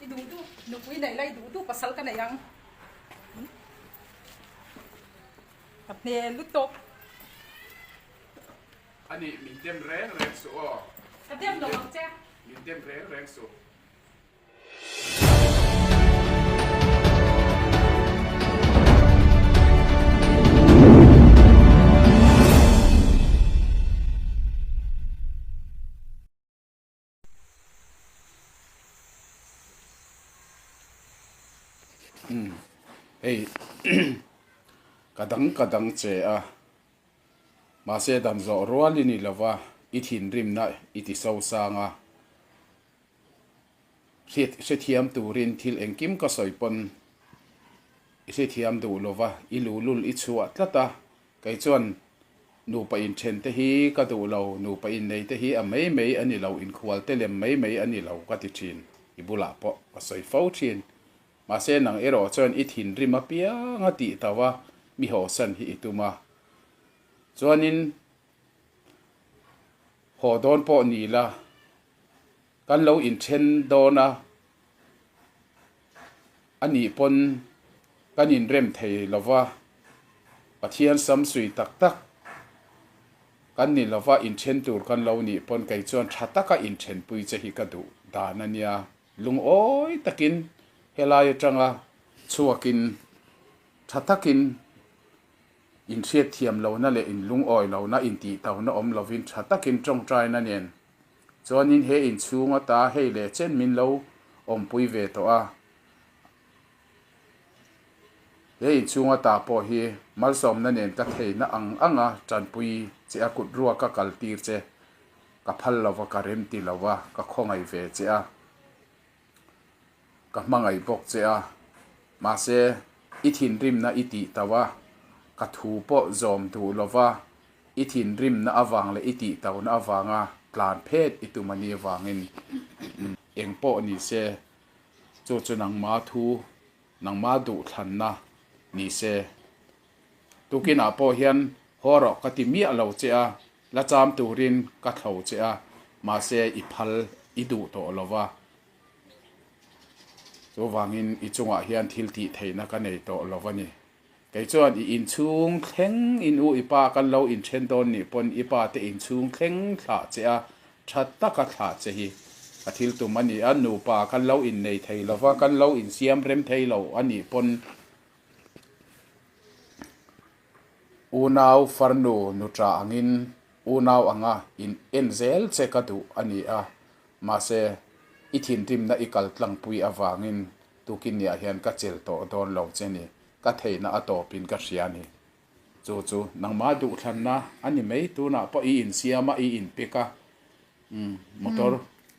I duhtu nupui neih lai duhtu pasal ka neih ang. Ka hne lut tawp. Ani min dem reng reng suh aw. Ka dem lo ang che. Min dem reng reng suh. hei ka dang ka dang che a, mahse dam zawh rual i ni lo va, i thinrimna i ti sosang a, hrethiam turin thil engkim ka sawi pawn i hrethiam duh lo va, i luhlul i chhuah tlat a, Kei chuan nupa inthen te hi ka duh lo, nupa innei te hi a mei mei a ni lo, inkhual te lem mei mei a ni lo ka ti thin, i bulah pawh ka sawi fo thin. Mahse nang erawh chuan i thinrim apiang a tih tauh a, mi hawhsan hi i tum a. Chuanin haw dawn pawh ni la, Kan lo inthen dawn a, anih pawn kan inrem thei lo va, Pathian samsui tak tak kan ni lo va, inthen tur kan lo nih pawn kei chuan tha taka inthenpui che hi ka duh dan a nia. Lungawi takin helai atanga chhuakin tha takin inhriat thiam lohna leh inlungawi lohna, intihtona awm lovin tha takin tawngtaina nen Chuanin he inchhung ata hei leh chen min lo awmpui ve tawh a, he inchhung ata pawh hi malsawmna nen ka theihna ang ang a, tanpui che a kut ruak ka kal tir che, ka phal lo va, ka remti lo va, ka khawngaih ve che a, ka hmangaih bawk che a, mahse i thinrimna i tih tauh a, ka thu pawh zawm duh lova, i thinrimna avang leh i tih tauhna avanga tlan phet i tum a nih avangin eng pawh ni se chu chu nangma thu nangma duhthlanna ni se. Tukinah pawh hian haw rawh ka ti miah lo che a, La cham turin ka thlo che a, mahse i phal i duh tawh lo va. Chuvangin i chungah hian thil tih theihna ka nei tawh lo va ni. Kei chuan i inchhung thleng in u i pa kan lo inthen dawn nih pawn i pa te inchhung thleng thlah che a, tha taka thlah che hi ka thil tum a ni a, nupa kan lo innei thei lo va, kan lo insiam rem thei lo a nih pawn. Unau farnu nuṭa angin unau anga in en zel che ka duh a ni a, mahse i thinrimna i kal tlangpui avangin tukin ni ah hian ka chel tawh dawn lo che ni, ka theihna a tawpin ka hria a ni. Chu chu nangma duhthlanna a ni mai, tunah pawh i insiam a, i inpek a, umm, motor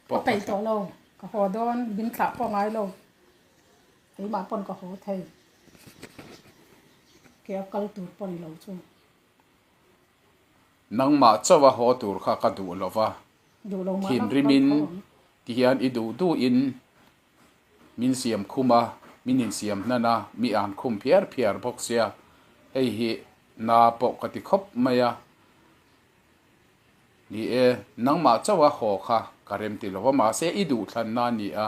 pawh ka tla. Ka peih tawh lo, ka haw dawn, ding thlah pawh a ngai lo. Keimah pawn ka haw thei. Ke a kal tur pawn lo chu. Nangmah chauh a haw tur kha ka duh lo va. Thinrim in ti hian i duh duh in min siam khum a, min insiam hnan a, mi an khum phiar phiar bawk sia. Hei hi na pawh ka ti khawp mai a ni e. Nangmah chauh a haw kha ka remti lo va, mahse i duhthlanna a ni a.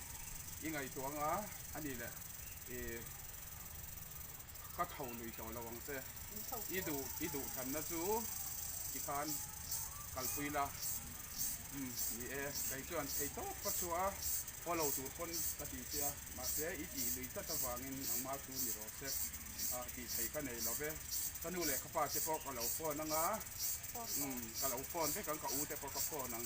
i ngaihtuah anga a ni le i ka tho nuih tawh lo ang che i duh i duh than na chu ti khan kalpui la um ni e kei chuan thei tawp ka chhuah a follow tur pawn ka ti che a mahse i tih lui tlat avangin engmah chu ni rawh che a tih thei ka nei lo ve ka nu leh ka pa te pawh ka lo phone anga um ka lo phone vek ang ka u te pawh ka phone ang.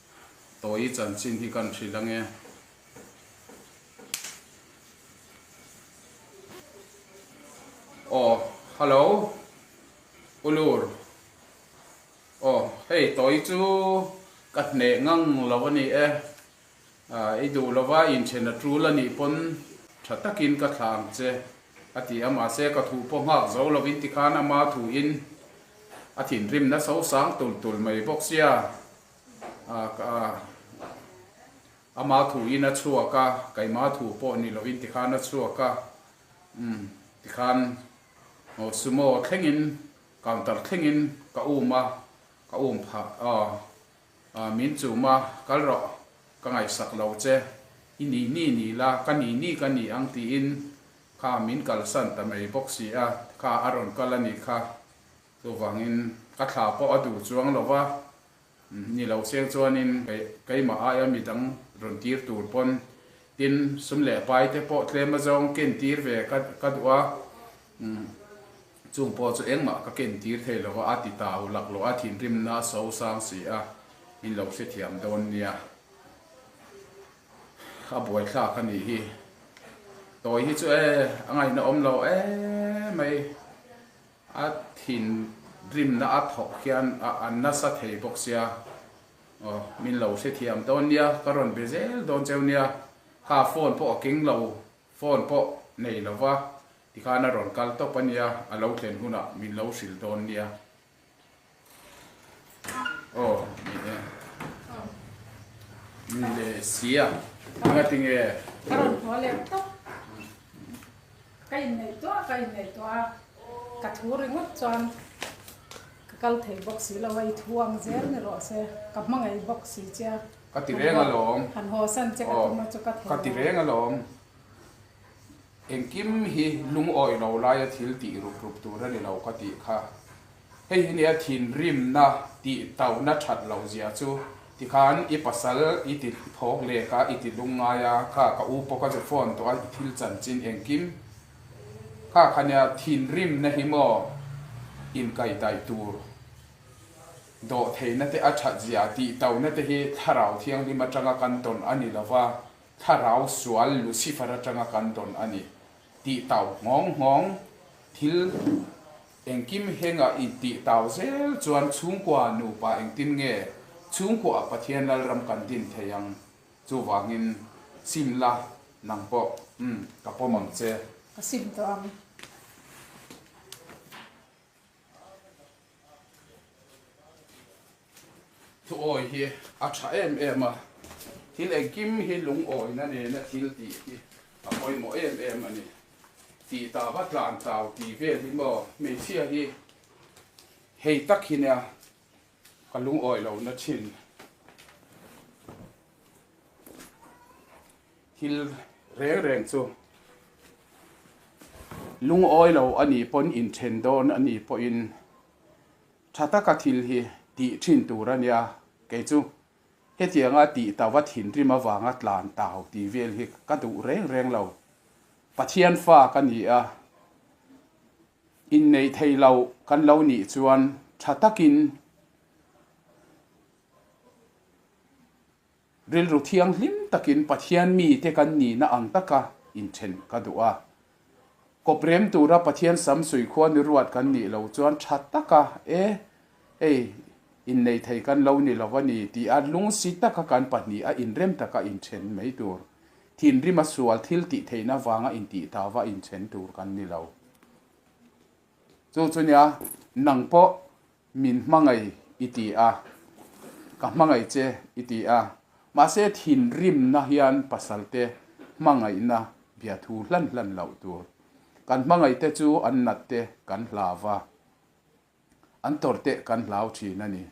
tawi chanchin hi kan hrilh ange. Aw, hello, Ulur. Aw, hei tawi chu ka hneh ngang lo a ni e. I duh lo va, inthen a tul a nih pawn tha takin ka thlah ang che, a ti a. Mahse, ka thu pawh nghak zo lovin tikhan ama thuin a thinrim naso sang tul tul mai bawk sia. Ama thu in a chhuak a, keimah thu pawh ni lohin tikhan a chhuak a, umm, tikhan aw sumo thlengin, counter thlengin ka um a, ka um phah, aw, aw, min chum a, kal rawh, ka ngaihsak lo che, i nih ni ni la, ka nih ni ka ni ang tiin kha min kalsan ta mai bawk si a, kha a rawn kal a ni kha. Chuvangin ka thla pawh a duh chuang lo va, ni lo chiang chuanin keimah aia mi dang rawn tir tur pawn. Tin, sum leh pai te pawh tlema zawng ken tir ve ka duh a, chung pawh chu engmah ka ken tir thei lo va, a ti ta u lak loha thinrimna a so sang si a, min lo hrethiam dawn nia. A buaithlak a nih hi. Tawi hi chu e, a ngaihna awm lo e mai. A thin rimna a thawk hian a nasa thei bawk sia. Aw, min lo hrethiam dawn nia, ka rawn be zel dawn cheu nia. Kha phone pawh a keng lo, phone pawh nei lo va, tikhan a rawn kal tawp a nia, a lo thlen hunah min lo hrilh dawn nia. Oh, ni e. Ni le sia. Anga ting e. Karon hmo le to. Kai nei to, kai nei to. Ka thu ringot chuan ka kal thei bawk si lo a i thu ang zel ni rawh se. Ka hmangaih bawk si che. Ka ti reng alawm. Han haw san che ka tum a chu ka thei lo. Ka ti reng alawm. Engkim hi lungawi lo laia thil tih rup rup tur a ni lo ka tih kha. Hei hi nia thinrimna tih tauhna that loh zia chu. Tikhan i pasal i ti thawk lek a, i ti lung ngai a, kha ka u pawh ka ze fawn tawh a, i thil chanchin engkim kha kha nia thinrimna hi maw inkaih daih tur, dawhtheihna te a that zia tih tauhna te hi Thlarau Thianghlim atanga kan tawn a ni lo va. Thlarau sual Lucifer atanga kan dawn a ni tih tau nghawng nghawng. Thil engkim henga intih tau zel chuan chhungkua nupa engtin nge chhungkuaah Pathian Lalram kan din thei ang? Chuvangin sim la, nang pawh umm ka pawm ang che. Ka sim tawh ang. Thuawi hi a tha em em a, thil engkim hi lungawina nena thil tih hi a pawimawh em em a ni. Tih ta va tlan tlau ti vel hi maw? Hmeichhia hi hei tak hi nia. Ka lungawi lo na thin thil reng reng chu lungawi lo a nih pawn in then dawn a nih pawhin tha taka thil hi tih thin tur a nia kei chu hetianga tih ta va thinrim avanga tlan tau tih vel hi ka duh reng reng lo Pathian fa ka ni a. Inneih thei lo kan lo nih chuan tha takin rilru thianghlim takin Pathian mite kan nihna ang taka inthen ka duh a. Kawp rem tura Pathian sam suihkhua ni ruat kan nih lo chuan tha taka e ei innei thei kan lo ni lo a ni tih a lungsi taka kan pahnih a inrem taka inthen mai tur, thinrim a sual thil tih theihna vanga intih tava inthen tur kan ni lo. Chu chu nia nang pawh min hmangaih i ti a, ka hmangaih che i ti a, mahse thinrimna hian pasalte hmangaihna bia thu hlan hlan loh tur, kan hmangaihte chu an natte kan hlav a. an tawrhteh kan hlau thin a ni.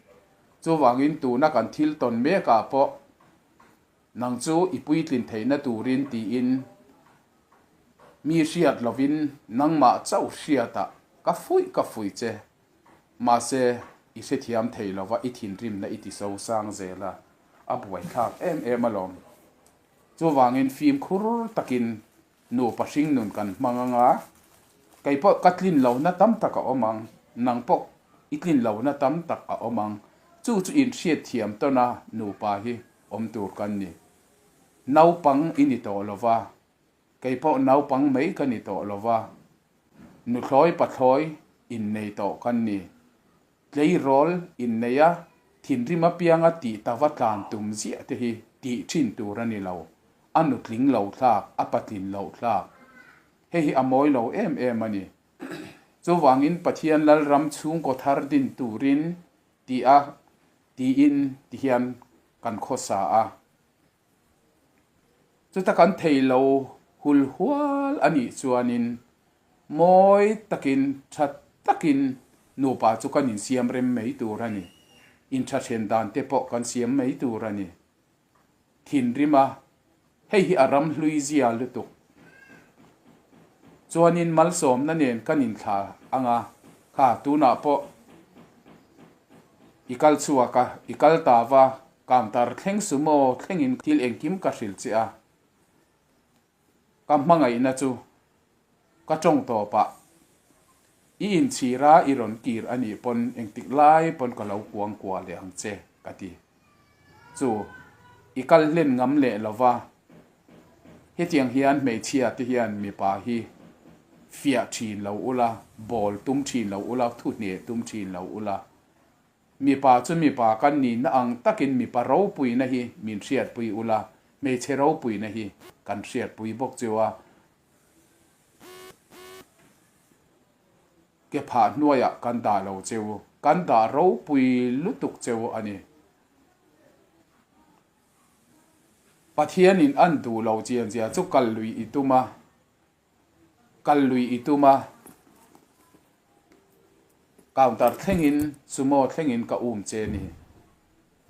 Chuvangin tuna kan thil tawn mekah pawh nang chu i puitlin theihna turin tiin mi hriat lovin nangmah chauh hriatah ka fuih ka fuih che, mahse i hrethiam thei lova i thinrimna i ti sosang zel a, a buaithlak em em alawm. Chuvangin fimkhur takin Nupa hringnun kan hmang anga, kei pawh ka tlin lohna tam tak a awm ang, nang pawh i tlin lohna tam tak a awm ang, chu chu in hriat thiam tawn a, nupa hi awm tur kan ni. Naupang i ni tawh lo va, kei pawh naupang mai ka ni tawh lo va, nuthlawi pathlawi innei tawh kan ni. Tleirawl inneia thinrim apiang a tih ta va tlan tum ziah te hi tih thin tur a ni lo, a nutling lo thlak, a patlin loh thlak. Hei hi a mawi lo em em a ni. Chuvangin Pathian Lalram chhungkaw thar din turin ti a tiin ti hian kan khawsa a. Chuta kan thei lo hul hual a nih chuanin mawi takin tha takin nupa chu kan insiam rem mai tur a ni. Inthathian dan te pawh kan siam mai tur a ni. Thinrima hei hi a ram hlui zia lutuk chuanin malsawmna nen kan inthla ang a, kha tunah pawh i kal chhuak a, i kal ta va. Ka antar thleng sumo thlengin thil engkim ka hrilh che a, ka hmangaihna chu ka tawng tawp a, i inchhir a i rawn kir a nih pawn engtik lai pawn ka lo kuang kuah leh ang che ka ti. Chu i kal hlen ngam leh lo va, hetiang hian hmeichhia te hian mipa hi fiah thin lo ula, bawl tum thin lo ula, thuhne tum thin lo ula, Mipa chu mipa kan nihna ang takin mipa ropuina hi min hriatpui ula, hmeichhe ropuina hi kan hriatpui bawk chu a. Ke phah hnuaiah kan dah lo che u, kan dah ropui lutuk che u a ni. Pathianin an duh lo chianzia chu kal lui i tum a. Kal lui i tum a, counter thlengin sumo thlengin ka um che ni.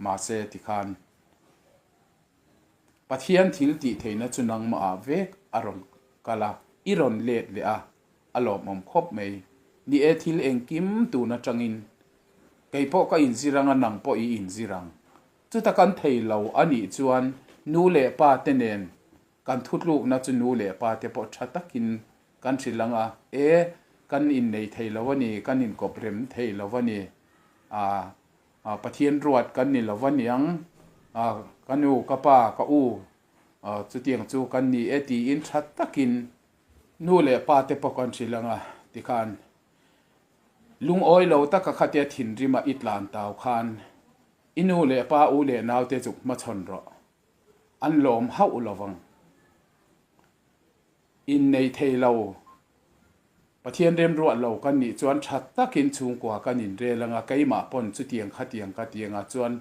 Mahse tikhan Pathian thil tih theihna chu nangmahah vek a rawn kal a, i rawn let leh a, a lawmawm khawp mai. Ni e, thil engkim tun atangin kei pawh ka inzir ang a, nang pawh i inzir ang. Chuta kan thei lo a nih chuan nu leh pa te nen Kan thutlukna chu nu leh pa te pawh tha takin kan hrilh ang a, e kan innei thei lo a ni, kan inkawp rem thei lo a ni, a Pathian ruat kan ni lo a niang, a ka nu, ka pa, ka u chutiang chu kan ni e tiin tha takin nu leh pa te pawh kan hrilh ang a tikhan lungawi lo taka khatia thinrima i tlan tau khan i nu leh pa, u leh nau te zuk hmachhawn rawh. an lawm hauh lo vang. Inneih thei lo, Pathian remruah lo kan nih chuan tha takin chhungkua kan inrel anga keimah pawn chutiang khatiang ka tiangah chuan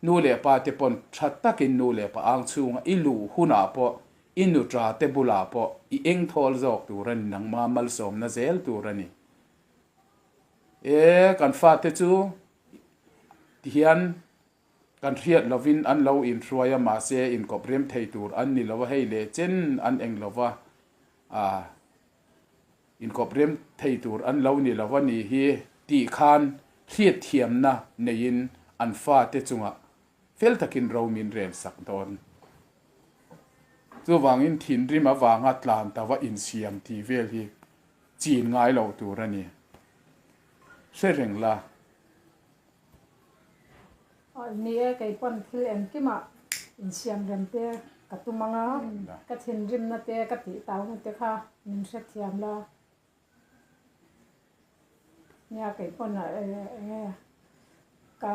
nu leh pa te pawn tha takin nu leh pa ang chhunga i luh hunah pawh i nu ṭa te bulah pawh i eng thawl zawk tur a ni nangma malsawmna zel tur a ni e kan fate chu tihian Kan hriat lovin an lo inhruai a mahse inkawprem thei tur an ni lo a hei leh chen an eng lo va ah inkawprem thei tur an lo ni lo a nih hi tih khan hriatthiamna neiin an fate chungah fel takin ro min rel sak dawn. Chuvangin thinrim avanga tlan ta va insiam tih vel hi chin ngai loh tur a ni. Hre reng la. Ni e, kei pawn thil engkim ah insiamrem te ka tum ang a, ka thinrimna te ka tih tau mi te kha min hrethiam la. Nia kei pawn ah enge ka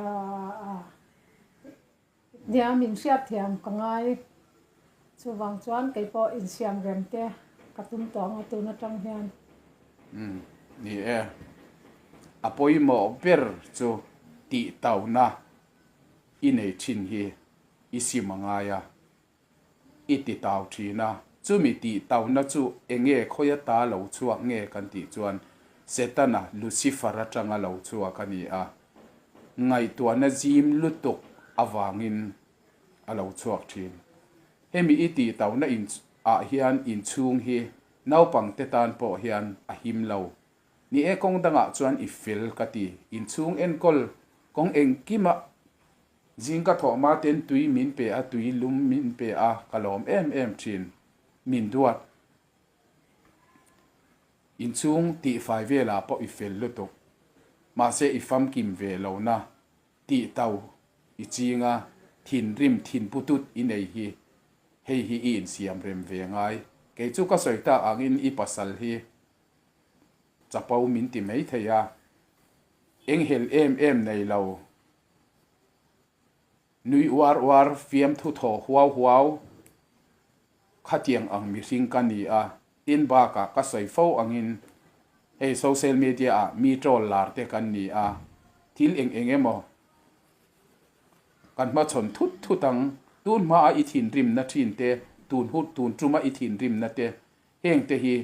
Nia min hriat thiam ka ngai. Chuvang chuan kei pawh insiam rem te ka tum tawh ang a tun atang hian. Umm ni e. A pawimawh ber chu tih tauna i nei thin hi i sim a ngai a. I ti tau thin a, chumi tih tauna chu enge khawi ata lo chhuak nge kan tih chuan Setana, Lucifer, atanga lo chhuak a ni a, ngaihtuahna zim lutuk avangin a lo chhuak thin. Hemi i tih tauna in ah hian inchhung hi naupang te tan pawh hian a him lo. Ni e kawng dangah chuan i fel ka ti, inchhung enkawl kawng engkimah Zing ka thawh mah ten tui min pe a, tui lum min pe a, ka lawm em em thin. Min duat. Inchhung tihfai velah pawh i fel lutuk. Mahse i famkim ve lo na, tih tau i ching a, thinrim thinpu tut i nei hi. Hei hi i insiam rem ve ngai. Kei chu ka sawi tak angin i pasal hi chapo min ti mai thei a, eng hel em em nei lo Nui uar uar, fiam thu thaw huau huau, khatiang ang mihring ka ni a, tin bakah ka sawi fo angin hei social media ah mi troll lar te kan ni a, thil eng eng emaw kan hmachhawn thut thut ang, tun hma a i thinrimna thin te, tun hut tun tuma i thinrimna te heng te hi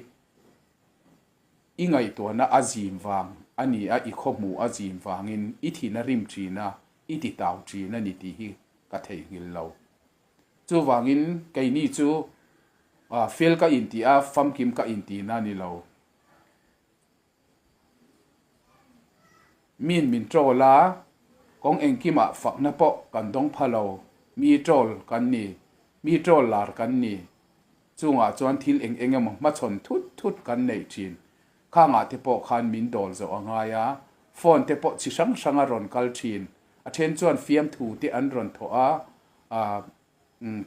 I ngaihtuahna a zim vang a ni a, i khawhmuh a zim vangin i thin a rim ṭin a, i titau ṭin a ni tih hi ka theihnghilh lo. Chuvangin keini chu fel ka intih a, famkim ka intihna a ni lo. Min min ṭawl a, kawng engkim ah fakna pawh kan dawng pha lo. Mi ṭawl kan ni, mi ṭawl lar kan ni. Chungah chuan thil eng eng emaw hmachhawn thut thut kan neih ṭhin. Khangah te pawh khan min dawl zawh a ngai a, phone te pawh chi hrang hrang a rawn kal ṭhin. A ṭhen chuan fiamthute an rawn thawh a, umm.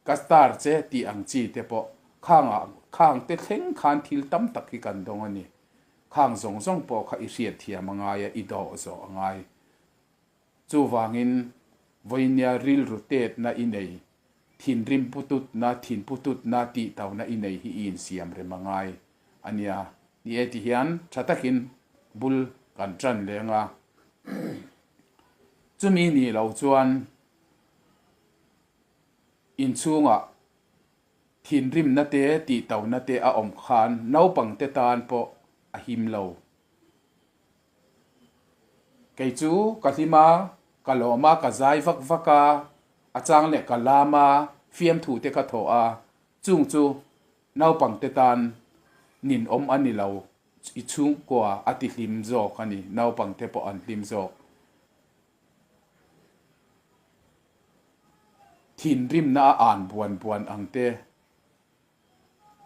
Ka star che tih ang chi te pawh khang ah khang te thleng khan thil tam tak hi kan dawng a ni. Khang zawng zawng pawh kha i hriat thiam a ngai a, i dawh zawh a ngai. Chuvangin Vawinia rilru tetna i nei, thinrim pu tutna, thin pu tutna tih tau na i nei hi i insiam rem a ngai a nia. Ni e ti hian tha takin bul kan tan leng a. Chumi ni lo chuan. Inchhungah thinrimna te tihtona te a awm khan naupangte tan pawh a him lo. Kei chu ka hlim a, ka lawm a, ka zai vak vak a, a chang leh ka lam a, fiamthu te ka thawh a, chung chu naupangte tan nin awm a ni lo. I chhungkua a tihlim zawk a ni, naupangte pawh an hlim zawk. Thinrimna a ân buan buan ang te,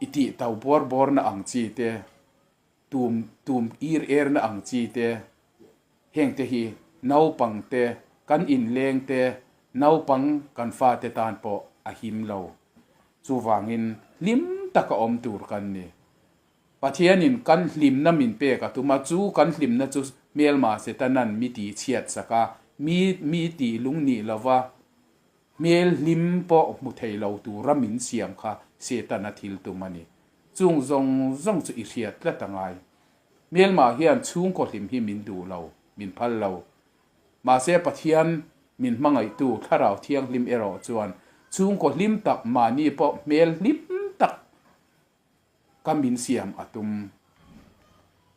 i tih tau bawr bawrna ang chi te, tum tum ir irna ang chi te, heng te hi naupang te, kan inlêng te, naupang kan fate tân pawh a him lo. Chuvângin hlim taka awm tûr kan ni. Pathianin kan hlimna min pek a tum a, chu kan hlimna chu hmel mah se ta nan mi ti chhiat sak a, mi mi ti lung nih lova hmel hlim pawh hmu thei lo tura min siam kha Setana thil tum a ni. Chung zawng zawng chu i hriat tlat a ngai. Hmel mah hian chhungkaw hlim hi min duh lo, min phal lo. Mahse Pathian min hmangaihtu Thlarau Thianghlim erawh chuan chhungkaw hlim tak mahni pawh hmel hlim tak Ka min siam a tum.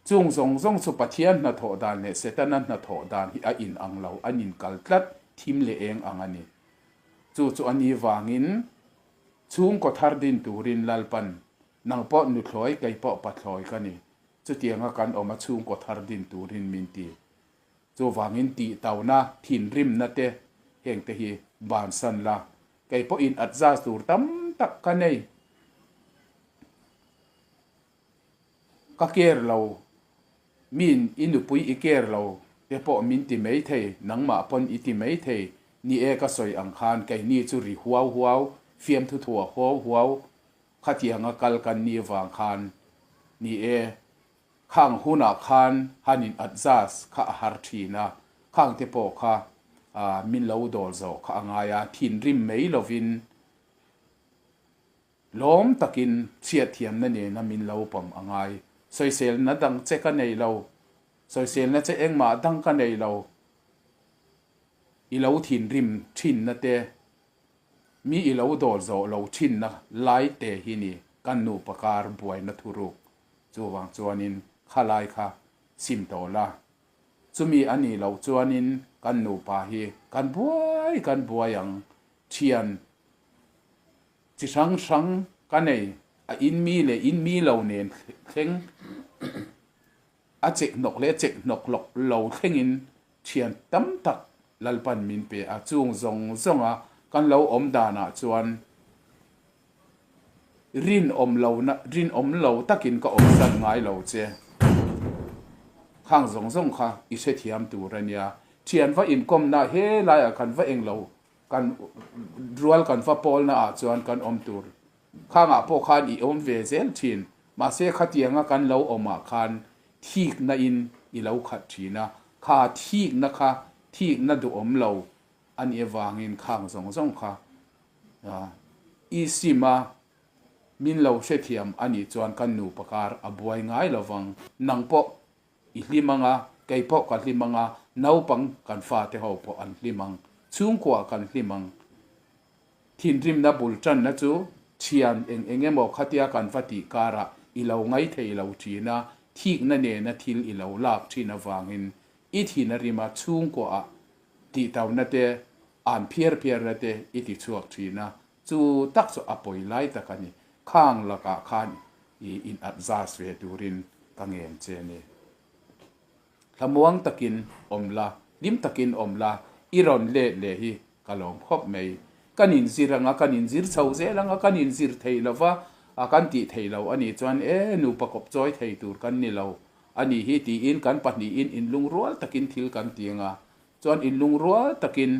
Chung zawng zawng chu Pathian hnathawh dan leh Setana hnathawh dan hi a in ang lo, an in kal tlat thim leh eng ang a ni. Chu chu a ni vangin chhungkaw thar din turin Lalpan, nang pawh nu thlawi, kei pawh pa thlawi ka ni, chutianga kan awm a chhungkaw thar din turin min ti. Chu vangin tih tauna, thinrimna te heng te hi bansan la, kei pawh in at zaz tur tam tak ka nei ka care lo min i nupui i care lo te pawh min ti mai thei nangmah pawn i ti mai thei ni e ka sawi ang khan kei ni chu ri huau huau fiam thu thua huau huau khatianga kal kan ni vang khan ni e. Khang hunah khan han in adjust kha a har thin a, khang te pawh kha ahh min lo dawr zawh kha a ngai a, thinrim mai lovin lawm takin chhiat thiamna nena min lo pawm a ngai. Sawiselna dang che ka nei lo, sawiselna che engmah dang ka nei lo, i lo thinrim thinna te, mi i lo dawr zawh lo thinna lai te hi ni kan nupa kar buaina thuruk chuvang chuanin khalai kha chim tawh la. Chumi a nih loh chuanin kan nupa hi kan buai kan buai ang, thian chi hrang hrang ka nei, a inmi leh inmi lo nen thleng, a chek hnawk leh chek hnawk lo thlengin Thian tam tak Lalpan min pe a, chung zawng zawng a kan lo awm dan ah chuan rinawm lo na, rinawm lo tak in ka awm zat ngai lo che. Khang zawng zawng kha i hrethiam tur a nia, thian va inkawm na he lai ah kan va eng lo, kan rual kan va pawl na ah chuan kan awm tur khang ah pawh khan i awm ve zel thin, mahse khatiang a kan lo awm ah khan thikna in i lo khat thin a, kha thikna kha thikna duhawm lo a nih avangin khang zawng zawng kha i sim a, min lo hrethiam a nih chuan kan nu pakar a buai ngai lo vang, nang pawh i hlim ang a, kei pawh ka hlim ang a, naupang kan fate ho pawh an hlim ang, chhungkua kan hlim ang, Thinrimna bul tanna chu thian eng eng emaw khatia kan va tih karah i lo ngai thei lo thin a, thikna nena thil i lo lak thin avangin i thinrima chhungkuaah tihtauhna te, an phiar phiarna te i ti chhuak thin a, chu tak chu a pawi lai tak a ni. Khang lakah khan i inat zas ve turin ka ngen che ni. Hlamuang takin awm la, hlim takin awm la, i rawn let leh hi ka lawm khawp mai. Kan inzir anga, kan inzir chho zel anga, kan inzir thei lo va, a kan tih thei lo a nih chuan e nupa kawp chawi thei tur kan ni lo a ni hi tiin kan pahnihin in lungrual takin thil kan ti anga chuan in lungrual takin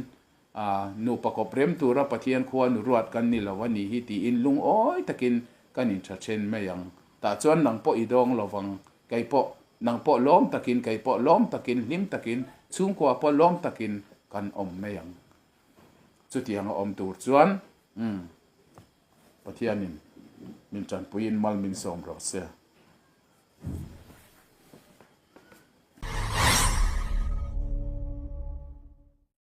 a, nupa kawp rem tura Pathian khua nu ruat kan ni lo a ni hi tiin lungawi takin kan in tha then mai ang. Tah chuan nang pawh i dawng lo vang, kei pawh, nang pawh lawm takin, kei pawh lawm takin, hlim takin, chhungkua pawh lawm takin kan awm mai ang. Chutiang a awm tur chuan, umm, Pathianin min tanpuiin mal min sawm rawh se.